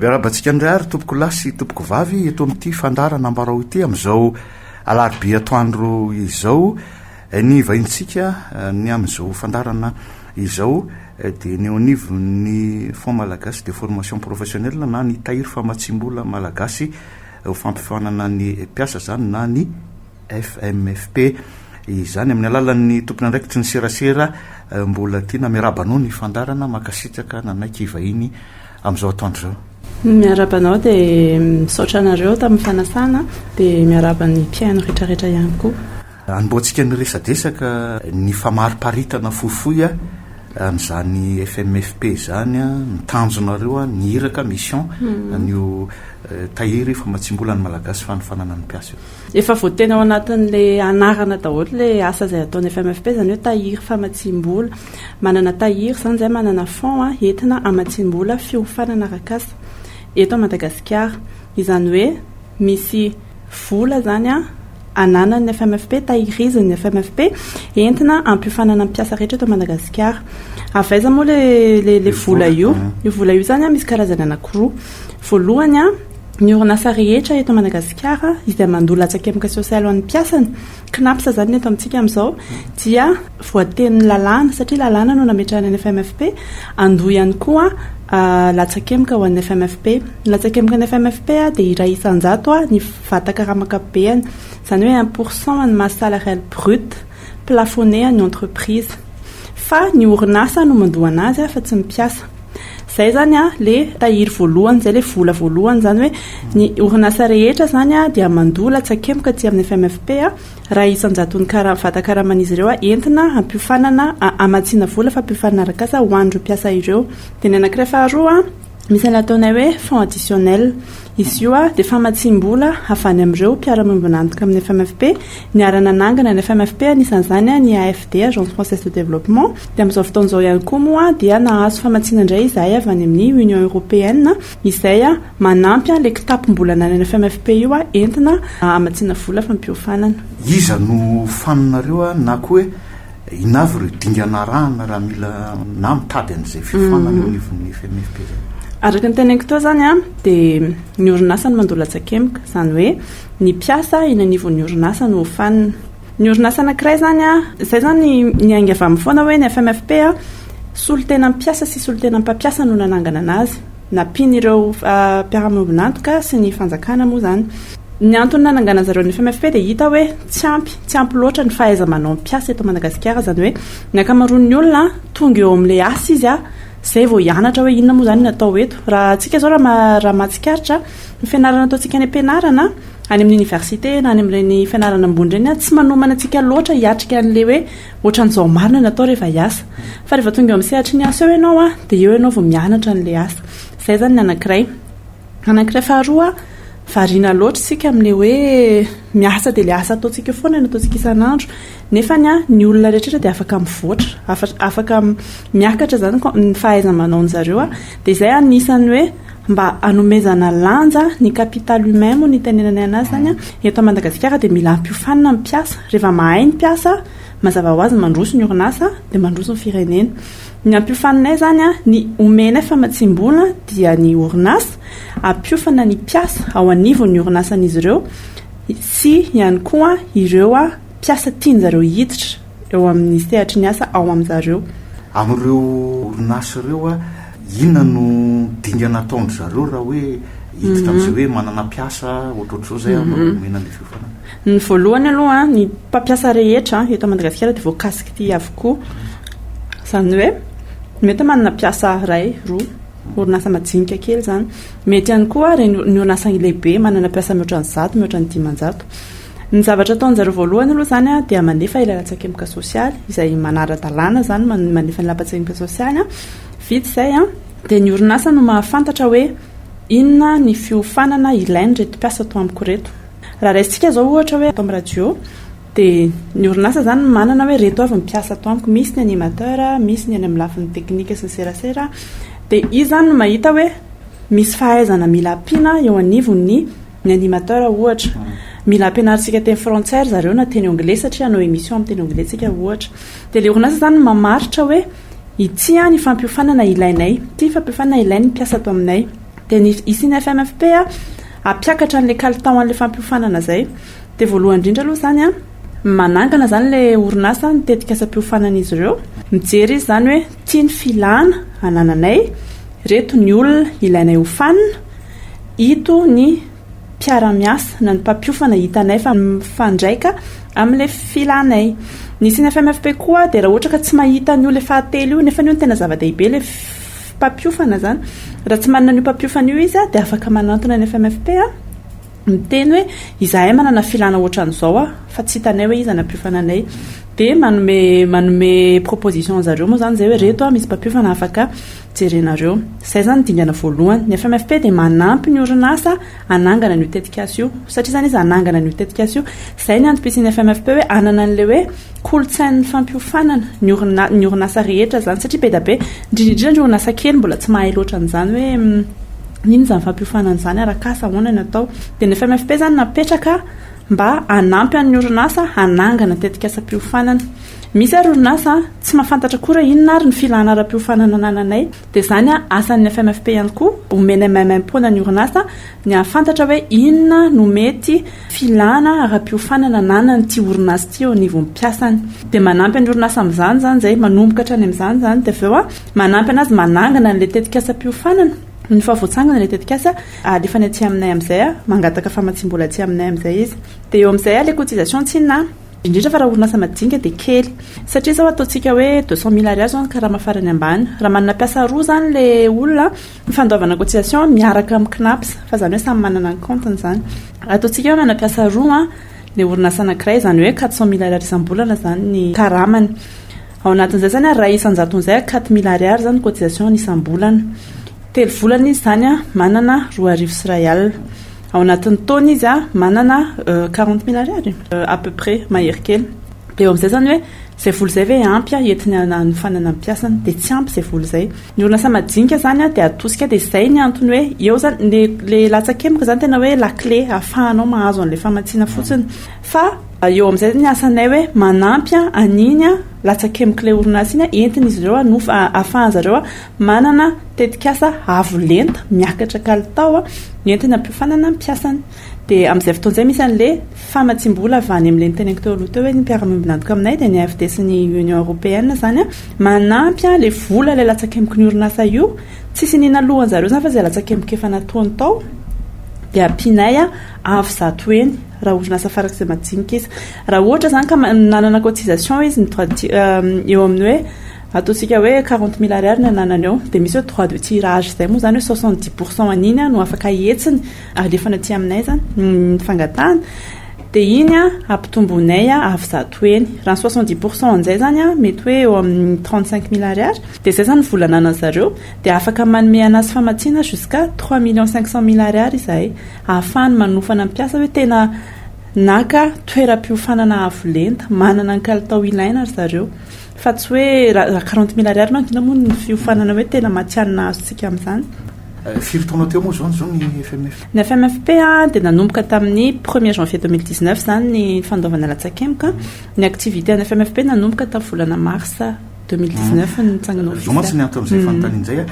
Miarabantsika indray ary tompoko lahy sy tompoko vavy eto amin'ity fandarana ambarao ity amin'izao alarobia atoandro izao Ny vahintsika ny amin'izao fandaharana izao dia ny eo anivon'ny Fonds Malagasy de Formation Professionnelle na ny Tahiry Famatsiam-bola Malagasy ho fampifaonana ny mpiasa izany na ny FMFP izany amin'ny alalan'ny tompon'andraikitry ny serasera Mbolatiana. Miarahaba anao ny fandaharana, mankasitraka nanaiky hivahiny amin'izao atoandro izao. Miarahaba anao dia misaotra anareo tamin'ny fanasana dia miarahaba ny mpihaino rehetrarehetra ihany koa. Anombohantsika ny resadresaka ny famariparitana fohifohy an'izany FMFP izany, ny tanjonareo, ny iraka, mission, an'io Tahiry famatsiam-bola ny Malagasy fanofanana ny mpiasa io. Efa voateny ao anatin'ilay anarana daholo ilay asa izay ataon'ny FMFP, izany hoe Tahiry famatsiam-bola. Manana Tahiry, izany izay manana fonds entina hamatsiam-bola fiofanana arak'asa eto Madagasikara. Izany hoe misy. vola izany ananan'ny FMFP, tahirizin'ny FMFP, entina hampiofanana ny mpiasa rehetra eto Madagasikara. Avy aiza moa ilay vola io? Io vola io izany misy karazany anankiroa. Voalohany, ny orinasa rehetra eto Madagasikara izay mandoa latsakemboka sosialy ho an'ny mpiasany Cnaps izany ny eto amintsika amin'izao dia voatenin'ny lalàna, satria lalàna no nametrahana ny FMFP, handoa ihany koa latsakemboka ho an'ny FMFP. Ny latsakembokan'ny FMFP dia iray isan-jato ny vata-karama ankapobeny, izany hoe un pour cent an'ny masse salariale brute plafonné an'ny entreprise. Fa ny orinasa no mandoa anazy a fa tsy ny mpiasa. Zay zany a le tahiry voalohany, zay le vola voalohany zany hoe ny orinasa rehetra zany a dia mandoa latsakemboka aty amin'ny FMFP a raha isan-jaton'ny kara- vatan-karaman'izy ireo a entina hampiofanana a- hamatsiana vola fampiofanana arak'asa ho an'ireo mpiasa ireo. Dia ny anankiray faharoa a. Misy an'ilay ataonay hoe fonds additionnel. Izy io dia famatsiam-bola avy any amin'ireo mpiara-miombon'antoka amin'ny FMFP niara-nanangana ny FMFP, anisan'izany ny AFD, Agence Française de Développement. Dia amin'izao fotoana izao ihany koa moa dia nahazo famatsiana indray izahay avy any amin'ny Union Européenne izay manampy ilay kitapom-bola ananan'ny FMFP io entina hamatsiana vola fampiofanana. Iza no ho faninareo na koa hoe Inona avy ireo dingana arahana raha mila na mitady an'izay fiofanana eo anivon'ny FMFP izay? Araka ny teneniko teo izany an, dia ny orinasa no mandoa latsa-kemboka, izany hoe ny mpiasa eny anivon'ny orinasa no hofanina. Ny orinasa anankiray izany an, izay izany niainga avy amin'ny foana hoe ny FMFP an, solontenan'ny mpiasa sy solontenan'ny mpampiasa no nananganana azy. nampian'ireo mpiara-miombon'antoka sy ny fanjakana moa izany. Ny antony nananganany zareo ny FMFP dia hita hoe tsy ampy, tsy ampy loatra ny fahaiza-manaon'ny mpiasa eto Madagasikara, izany hoe ny ankamaroan'ny olona tonga eo amin'ilay asa izy a, izay vao hianatra hoe inona moa izany no atao eto. Raha antsika izao raha mahatsikaritra, ny fianarana ataontsika any am-pianarana, any amin'ny oniversite na any amin'ireny fianarana ambony ireny a, tsy manomana antsika loatra hiatrika an'ilay hoe Ohatran'izao marina ny atao rehefa hiasa. Fa rehefa tonga eo amin'ny sehatry ny asa eo ianao an, dia eo ianao vao mianatra an'ilay asa. Izay izany ny anankiray. Ny anankiray faharoa, variana loatra isika amin'ilay hoe miasa dia ilay asa ataontsika eo foana no ataontsika isan'andro. Nefa ny olona rehetra dia afaka mivoatra, afaka miakatra izany ny fahaiza-manaon'izareo. Dia izay no anisan'ny hoe. mba hanomezana lanja ny capital humain moa ny itenenanay anazy zany an, eto Madagasikara dia mila hampiofanina ny mpiasa, reva mahay ny mpiasa mazava ho azy mandroso ny orinasa dia mandroso ny firenena, ny hampiofaninay zany an, ny omenay famatsiam-bola dia ny orinasa hampiofana ny mpiasa ao anivon' ny orinasan'izy ireo sy ihany koa ireo mpiasa tian'zareo hiditra. eo amin'ny sehatry ny asa ao amin-dry zareo. Amin'ireo orinasa ireo, inona no dingana ataon-dry zareo raha hoe hiditra amin'izay hoe manana mpiasa ohatrohatr'izao izay aho no omena ilay fiofanana? Ny voalohany aloha, ny mpampiasa rehetra eto Madagasikara dia voakasiky ity avokoa. Izany hoe mety manana mpiasa iray, roa, orinasa majinika kely izany. Mety ihany koa ireny ny orinasa lehibe manana mpiasa mihoatra ny zato, mihoatra ny dimanjato. Ny zavatra ataon'zareo voalohany aloha zany a dia manefa ilay latsakemboka sosialy izay manara-dalàna zany man- manefa ny lapatsakemboka sosialy a, vita izay a dia ny orinasa no mahafantatra hoe inona ny fiofanana ilain'ireto mpiasa ato amiko ireto. Raha raisintsika izao ohatra hoe ato amin'ny radio dia ny orinasa zany no manana hoe ireto avy ny mpiasa ato amiko, misy ny animateur, misy ny any amin'ny lafiny teknika sy ny serasera dia izy zany no mahita hoe misy fahaizana mila ampiana eo anivon'ny Ny animateur ohatra, mila ampianarintsika teny frantsay ry zareo na teny anglais satria hanao émission amin'ny teny anglais tsika ohatra. Dia ilay orinasa izany no mamaritra hoe ity ny fampiofanana ilainay, ity ny fampiofanana ilain'ny mpiasa ato aminay. Dia ny hisy ny FMFP hampiakatra an'ilay kalitao an'ilay fampiofanana izay. Dia voalohany indrindra aloha izany, manangana izany ilay orinasa ny tetikasam-piofanan'izy ireo, mijery izy izany hoe ity ny filana anananay, ireto ny olona ilainay hofanina. Ito ny mpiara-miasa na ny mpampiofana hitanay fa mifandraika amin'ilay filanay. Ny CNFMFP koa dia raha ohatra ka tsy mahita an'io ilay fahatelo io, nefa io no tena zava-dehibe ilay mpampiofana izany, raha tsy manana an'io mpampiofana io izy dia afaka manantona ny FMFP miteny hoe izahay manana filana ohatran'izao aho fa tsy hitanay hoe iza no hampiofana anay. Dia manome manome proposition zareo moa izany izay hoe reto misy mpampiofana afaka Jerenareo. Izay izany ny dingana voalohany. Ny FMFP dia manampy ny orinasa hanangana an'io tetikasa io. Satria izany izy hanangana an'io tetikasa io. Izay ny antom-pisian'ny FMFP hoe hanana an'ilay hoe kolontsain'ny fampiofanana ny orinasa, ny orinasa rehetra izany. Satria be dia be, indrindra indrindra ny orinasa kely mbola tsy mahay loatra an'izany hoe inona izany fampiofanana izany, arak'asa, ahoana ny atao. Dia ny FMFP izany napetraka mba hanampy an'ny orinasa hanangana tetikasam-piofanana. Misy ary orinasa tsy mahafantatra koa raha inona ary ny filana ara-piofanana anananay dia izany asan'ny FMFP ihany koa omenay maimaimpoana ny orinasa ny hahafantatra hoe inona no mety filana ara-piofanana ananan'ity orinasa ity eo anivon'ny mpiasany dia manampy ny orinasa amin'izany izany izay manomboka hatrany amin'izany izany dia avy eo manampy anazy manangana an'ilay tetikasam-piofanana no fa voatsangana ilay tetikasa alefany aty aminay amin'izay mangataka famatsiam-bola aty aminay amin'izay izy dia eo amin'izay ilay cotisation tsinona Indrindra fa raha orinasa madinika dia kely. Satria izao ataontsika hoe deux cent mille ariary izao ny karama farany ambany. Raha manana mpiasa roa izany ilay olona an, ny fandoavana cotisation miaraka amin'ny Cnaps, fa izany hoe samy manana ny kaontiny izany. Raha ataontsika hoe manana mpiasa roa an, ilay orinasa anankiray, izany hoe quatre cent mille ariary isam-bolana izany ny karamany. Ao anatin'izay izany an, iray isan-jatony izay an, quatre mille ariary izany ny cotisation-ny isam-bolana. Telo volana izy izany an, manana roa arivo sy iray alina. Ao anatin'ny taona izy manana quarante mille ariary à peu près mahery kely. Dia eo amin'izay izany hoe izay vola izay ve ampy entina hanofanana ny mpiasany? Dia tsy ampy izay vola izay. Ny orinasa madinika izany dia atosika. Dia izay ny antony hoe eo izany. Ny ilay latsakemboka izany tena hoe la clé ahafahanao mahazo an'ilay famatsiana fotsiny. Fa eo amin'izay ny asanay hoe manampy an'iny latsakembok'ilay orinasa iny entin'izy ireo hanofa, ahafahan'izy ireo. Manana tetikasa avo lenta miakatra kalitao entina hampiofanana ny mpiasany. Dia amin'izay fotoana izay misy an'ilay famatsiam-bola avy any amin'ilay niteneniko teo aloha teo hoe ny mpiara-miombon'antoka aminay dia ny AFD sy ny Union Européenne izany manampy ilay vola ilay latsakemboky ny orinasa io. Tsisy iniana lohan-dry zareo izany fa izay latsakemboky efa natoany tao dia ampianay avo zato heny raha orinasa farak'izay majinika izy. Raha ohatra izany ka nanana cotisation izy eo amin'ny hoe Ataontsika hoe quarante mille ariary ny ananany eo, dia misy hoe droit de tirage izay moa izany hoe soixante dix pour cent an'iny no afaka hihetsiny alefany aty aminay izany ny fangatahana, dia iny ampitomboinay avy zato heny. Raha ny soixante dix pour cent amin'izay izany mety hoe eo amin'ny trente cinq mille ariary, dia izay izany ny vola ananan'ny zareo, dia afaka manome an'azy famatsiana jusqu'à trois millions cinq cent mille ariary izahay ahafahany manofana ny mpiasa hoe tena naka toeram-piofanana avo lenta, manana ny kalitao ilaina ry zareo. Fa tsy hoe raha quarante mille ariary manko inona moa ny fiofanana hoe tena matihanina azontsika amin'izany. Firy taona teo moa izao zo ny FMF? Ny FMFP dia nanomboka tamin'ny premier janvier deux mille dix neuf izany ny fandoavana latsakemboka. Ny activité an'ny FMFP nanomboka tamin'ny volana mars deux mille dix neuf no nitsangana ofisialy. Izao mantsy ny anton'izay fanontanian'izay,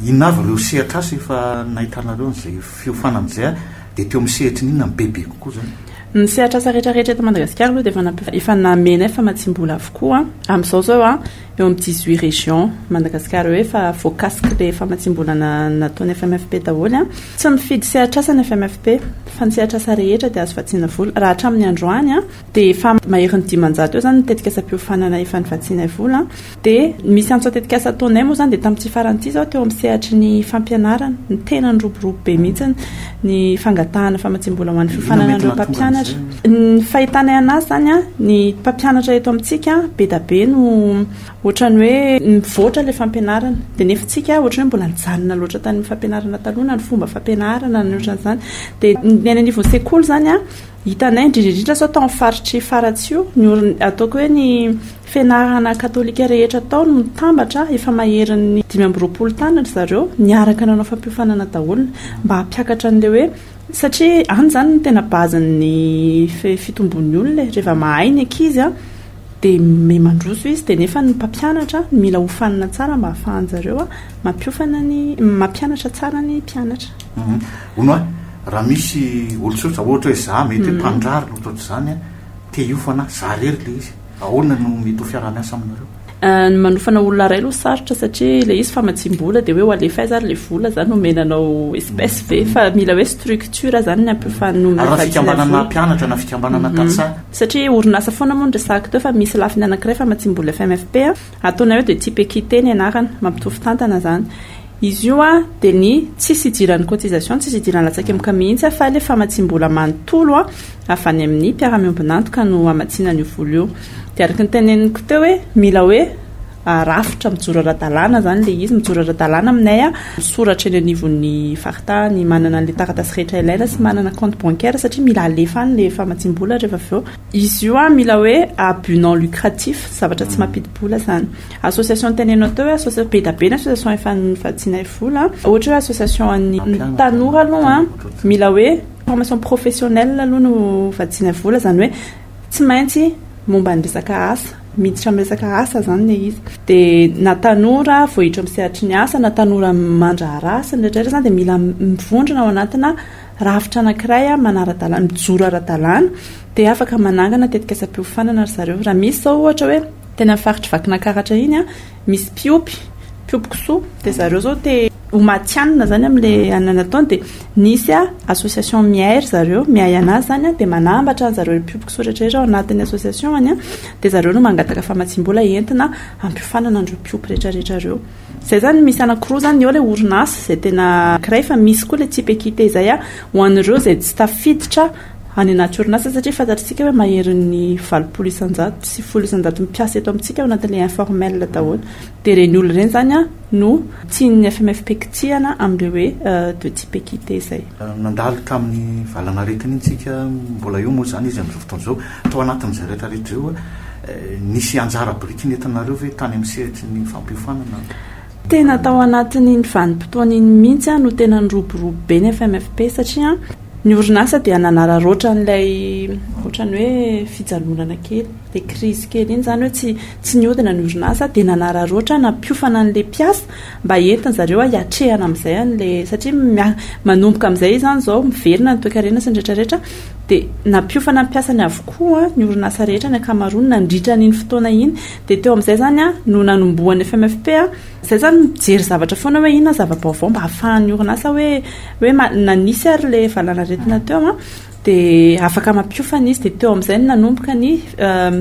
inona avy ireo sehatr'asa efa nahitanareo an'izay fiofanana izay? Dia teo amin'ny sehatry ny inona ny bebe kokoa izany? Ny sehatrasa rehetra rehetra eto Madagasikara aloha dia efa nampifa- efa namenay famatsiam-bola avokoa. Amin'izao izao an, eo amin'ny dix huit régions Madagasikara eo efa voakasiky ilay famatsiam-bola na- nataon'ny FMFP daholo an. Tsy mifidy sehatrasa ny FMFP fa ny sehatrasa rehetra dia azo vatsiana vola. Raha hatramin'ny androany an, dia efa maherin'ny dimanjato eo izany ny tetikasam-piofanana efa nivatsianay vola. Dia ny misy antso an-tetikasa ataonay moa izany dia tamin'ity farany ity izao teo amin'ny sehatry ny fampianarana no tena niroborobo be mihitsy ny fangatahana famatsiam-bola ho an'ny fiofanana an'ireo mpampianatra. Ny fahitanay an'azy izany, ny mpampianatra eto amintsika be dia be no ohatran'ny hoe mivoatra ilay fampianarana dia nefa isika ohatran'ny hoe mbola nijanona loatra tamin'ny fampianarana taloha na ny fomba fampianarana na ny ohatran'izany. Dia ny any anivon'ny sekoly izany hitanay indrindra indrindra sao tao amin'ny faritry Faratsiho ny ataoko hoe ny Fianarana katolika rehetra tao no mitambatra, efa maherin'ny dimy amby roapolo taona ry zareo, niaraka nanao fampiofanana daholo mba hampiakatra an'ilay hoe, satria any izany no tena base-n'ny fitomboan'ny olona e, rehefa mahay ny ankizy dia miha mandroso izy, dia nefa ny mpampianatra no mila hofanina tsara mba hahafahan-jareo mampiofana ny, mampianatra tsara ny mpianatra. Hono a, raha misy olon-tsotra, ohatra hoe za, mety hoe mpanindrary no ohatr'izany, te hiofana, za irery ilay izy. Ahoana no mety ho fiaraha-miasa aminareo? Ny manofana olona iray aloha sarotra satria ilay izy famatsiam-bola dia hoe ho alefa aiza ary ilay vola izany omena anao espèce ve fa mila hoe structure izany ny ampifanonona Ary raha vatsy ilay fikambanana vola. mpianatra na fikambanana tantsaha? Satria orinasa foana moa ny resahako teo fa misy lafiny anankiray famatsiam-bola FMFP a. Ataonareo dia Tipekite ny anarana, mampitovy tantana zany. Izy io an dia ny tsisy idiran'ny cotisation, tsisy idiran'ny latsakemboka mihitsy an fa ilay famatsiam-bola manontolo an avy any amin'ny mpiara-miombon'antoka no hamatsiana an'io vola io. Dia araka ny teneniko teo hoe mila hoe rafitra mijoro ara-dalàna zany ilay izy, mijoro ara-dalàna aminay an, misoratra eny anivon'ny faritany, manana an'ilay taratasy rehetra ilaina sy manana compte bancaire satria mila alefa any ilay famatsiam-bola rehefa avy eo. Izy io an mila hoe à but non lucratif, zavatra tsy mampidi-bola zany. Association tenenao teo hoe association, be da be ny association efa nivadianay vola an. Ohatra hoe association an'ny tanora aloha an, mila hoe formation professionnelle aloha no vadianay vola, zany hoe tsy maintsy momba ny resaka asa, miditra amin'ny resaka asa zany le izy. Dia na tanora voahiditra amin'ny sehatry ny asa na tanora mandraharaha sy ny rehetra rehetra zany dia mila mivondrona ao anatina. rafitra anankiray manara-dalàna, mijoro ara-dalàna, dia afaka manangana tetikasam-piofanana ry zareo. Raha misy izao ohatra hoe, teny amin'ny faritry Vakinankaratra iny, misy mpiompy, mpiompy kisoa, dia zareo izao te ho matihanina izany amin'ilay anona nataony, dia nisy association miahy ry zareo, miahy an'azy izany, dia manambatra an'zareo mpiompy kisoa rehetrarehetra ao anatin'ny association-ny, dia zareo no mangataka famatsiam-bola entina hampiofanana an'ireo mpiompy rehetrarehetra ireo. Zay zany misy anakiroa zany ny eo ilay orinasa zay tena ankiray fa misy koa ilay type équité izay a ho an'ireo izay tsy tafiditra any anaty orinasa satria fantatr'isika hoe maherin'ny valopolo isanjato sy folo isanjato mpiasa eto amintsika ao anatin'ilay informel daholo dia ireny olona ireny zany a no tian'ny FMFP kitihana amin'ilay hoe deux type équité izay. Nandalo tamin'ny valanaretina iny tsika mbola eo moa izany izy amin'izao fotoana izao. Tao anatin'izay rehetrarehetra izay Nisy anjara biriky nentinareo ve tany amin'ny sehatry ny fampiofanana ny Fanjakana? Tena tao anatin'iny vanim-potoana iny mihitsy aho no tena niroborobo be ny FMFP satria ny orinasa dia nanararaotra an'ilay ohatran'ny hoe fijanonana kely, ilay krizy kely iny, izany hoe tsy tsy nihodina ny orinasa dia nanararaotra nampiofana an'ilay mpiasa mba entin-dry zareo hiatrehana amin'izay an'ilay satria manomboka amin'izay izany izao miverina ny toekarena sy ny rehetra rehetra. dia nampiofana ny mpiasany avokoa ny orinasa rehetra ny ankamaroany nandritra an'iny fotoana iny dia teo amin'izay izany no nanombohan'ny FMFP izay izany mijery zavatra foana hoe inona zava-baovao mba hahafahan'ny orinasa hoe hoe na nisy ary ilay valanaretina teo dia afaka mampiofana izy dia teo amin'izay no nanomboka ny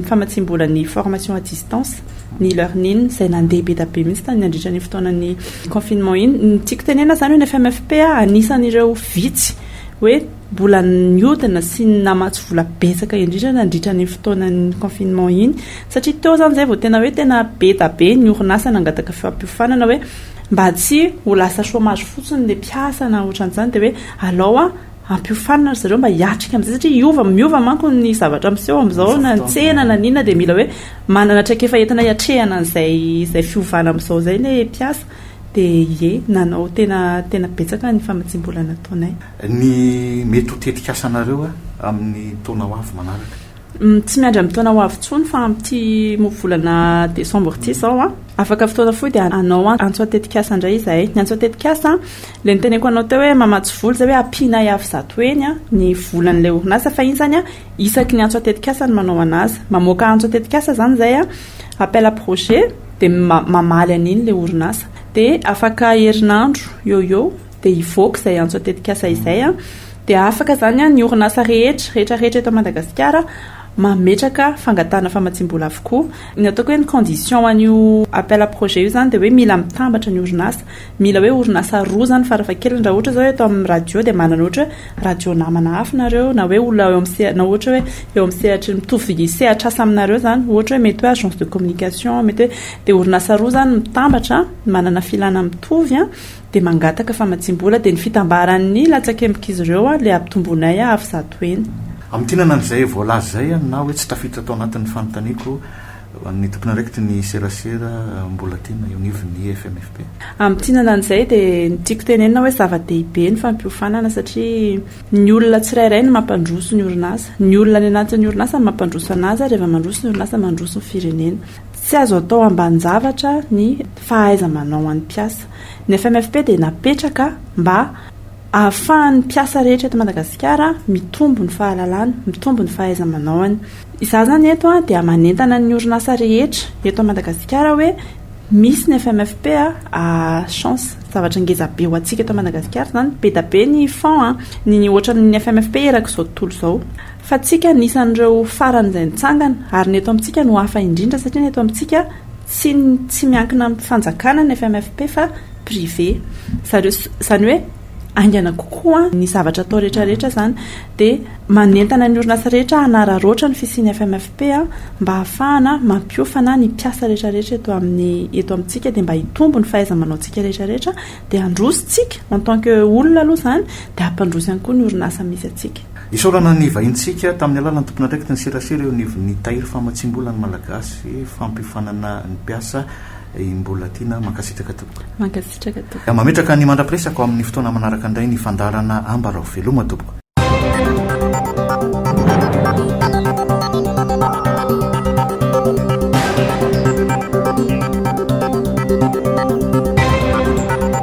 famatsiam-bola ny formation à distance ny learning izay nandeha be dia be mihitsy tany nandritra ny fotoanan'ny confinement iny ny tiako tenena izany hoe ny FMFP anisan'ireo vitsy hoe Mbola niodina sy namatsy vola betsaka indrindra nandritra an'iny fotoanan'ny confinement iny satria teo izany izay vao tena hoe tena be da be ny orinasa nangataka fampiofanana hoe mba tsy ho lasa chômage fotsiny ilay mpiasa na ohatran'izany dia hoe alao a ampiofanina ry zareo mba hiatrika amin'izay satria hiova miova manko ny zavatra miseho amin'izao na ny tsena na ny inona dia mila hoe manana traikefa entina hiatrehana an'izay izay fiovana amin'izao izay ilay mpiasa dia ie nanao tena tena betsaka ny famatsiam-bola nataonay. Ny mety ho tetikasanareo amin'ny taona ho avy manaraka? Tsy miandry amin'ny taona ho avy intsony fa amin'ity volana desambra ity izao an! Afaka fotoana fohy dia hanao antso an-tetikasa indray izahay. Ny antso an-tetikasa, ilay noteneniko anao teo hoe mamatsy vola izay hoe ampianay avy zato heny ny volan'ilay orinasa fa iny izany isaky ny antso an-tetikasa no manao an'azy. Mamoaka antso an-tetikasa izany izahay, appel à projet, dia mamaly an'iny ilay orinasa. Dia afaka herinandro eo ho eo. dia hivoaka izay antso an-tetikasa izay dia afaka izany ny orinasa rehetra rehetra rehetra eto Madagasikara mametraka fangatahana famatsiam-bola avokoa. Ny ataoko hoe ny condition an'io appel à projet io izany dia hoe mila mitambatra ny orinasa. Mila hoe orinasa roa izany farafahakeliny. Raha ohatra izao eto amin'ny radio dia manana ohatra hoe radio namana hafa nareo na hoe olona eo amin'ny sehatra na ohatra hoe eo amin'ny sehatry ny mitovy sehatr'asa aminareo izany. Ohatra hoe mety hoe agence de communication, mety hoe dia orinasa roa izany mitambatra manana filana mitovy. dia mangataka famatsiam-bola dia ny fitambaran'ny latsakembok'izy ireo ilay hampitomboinay hahaavy zato heny. Hamintinana an'izay voalaza izay na hoe tsy tafiditra tao anatin'ny fanontaniako an'ny tompon'andraikitry ny serasera Mbolatiana eo anivon'ny FMFP. Hamintinana an'izay dia ny tiako tenenina hoe zava-dehibe ny fampiofanana satria ny olona tsirairay no mampandroso ny orinasa. Ny olona any anatin'ny orinasa no mampandroso an'azy ary rehefa mandroso ny orinasa mandroso ny firenena. Tsy azo atao ambanin-javatra ny fahaiza-manao an'ny mpiasa. Ny FMFP dia napetraka mba hahafahan'ny mpiasa rehetra eto Madagasikara mitombo ny fahalalany, mitombo ny fahaiza-manaony. Izaho izany eto dia manentana ny orinasa rehetra eto Madagasikara hoe misy ny FMFP a, chance, zavatra ngeza be ho antsika eto Madagasikara izany, be dia be ny fonds, ny ohatran'ny FMFP erak'izao tontolo izao. Fa tsika anisan'ireo faran'izay nitsangana, ary ny eto amintsika no hafa indrindra satria ny eto amintsika tsy tsy miankina amin'ny fanjakana ny FMFP fa privé. Zareo izany hoe haingana kokoa ny zavatra atao rehetra rehetra izany dia manentana ny orinasa rehetra hanararaotra ny fisian'ny FMFP mba hahafahana mampiofana ny mpiasa rehetra rehetra eto amin'ny eto amintsika dia mba hitombo ny fahaiza-manaontsika rehetra rehetra dia handroso tsika en tant que olona aloha izany dia hampandroso ihany koa ny orinasa misy antsika. Isaorana ny vahintsika tamin'ny alalan'ny tompon'andraikity ny serasera eo anivon'ny Tahiry Famatsiam-bola ny Malagasy, fampihofanana ny mpiasa i Mbolatiana. Mankasitraka tompoko. Mankasitraka tompoko. Mametraka ny mandra-piresaka ho amin'ny fotoana manaraka indray ny fandaharana Ambarao. Veloma tompoko.